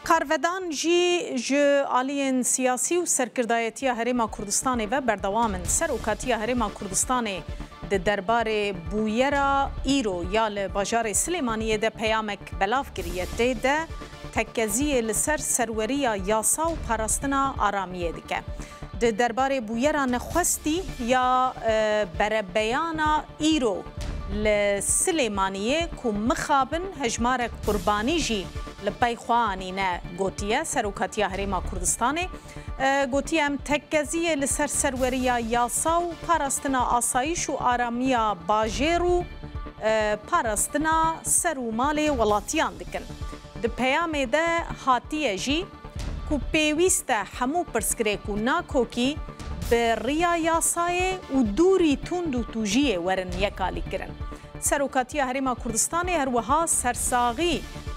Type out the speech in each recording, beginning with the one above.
Karvedan jî ji aliyên siyasî û serkirdayetiya Herêma Kurdistanê ve berdewam in. Serokatiya Herêma Kurdistanê di derbarê bûyera îro ya li bajarê Silêmaniyê de peyamek belav kiriye. Tê de tekeziyê li ser serweriya yasa û parastina aramiyê dike. Di derbarê bûyera nexwestî ya berebeyana îro li Silêmaniyê ku mixabin hejmarek qurbanî jî li pey xwe anîne gotiye, Serokatiya Herêma Kurdistanê gotiye em tekkeziyê li ser serweriya yasa û parastina asayîş û aramiya bajêr û parastina ser û malê welatiyan dikin. Di peyamê de hatiye jî. ku pêwîst e hemû pirsgirê ku nakokî bi riya yasayê û dûrî tund û tûjiyê werin yekalîkirin. Serokatiya Herêma Kurdistanê her wiha sersaxî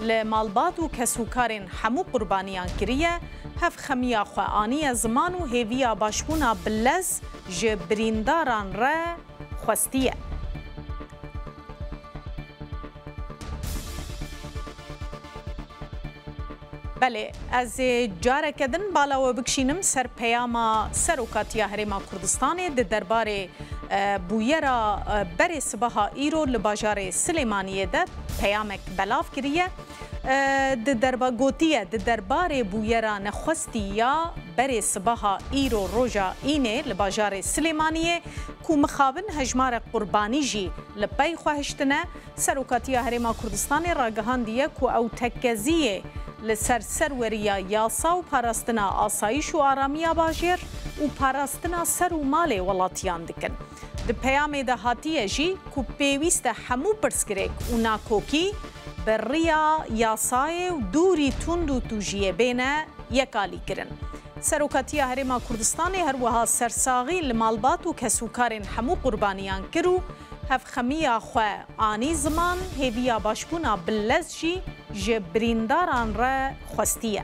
li malbat û kesûkarên hemû qurbaniyan kiriye, hevxemiya xwe aniye ziman û hêviya başbûna bi lez ji birîndaran re, xwestiye. Belê, ez ê careke din bala we bikişînim ser peyama Serokatiya Herêma Kurdistanê di derbarê bûyera berê sibeha îro li bajarê Silêmaniyê de peyamek belav kiriye. Di derba gotiye di derbarê bûyera nexwestî ya berê sibaha îro roja Înê li bajarê Silêmaniyê ku mixabin hejmarek qurbanî jî li pey xwe hiştine, Serokatiya Herêma Kurdistanê ragihandiye ku ew tekkeziyê li ser serweriya yasa û parastina asayiş û aramiya bajêr û parastina ser û malê welatiyan dikin. Di peyamê de hatiye jî ku pêwîste hemû pirsgirêk û nakokî, bi riya yasayê û dûrî tund û tûjiyê bêne yekalîkirin. Serokatiya Herêma Kurdistanê her wiha sersaxî li malbat û kesûkarên hemû qurbaniyan kir û hevxemiya xwe anî ziman, hêviya başbûna bi lez jî ji birîndaran re xwestiye.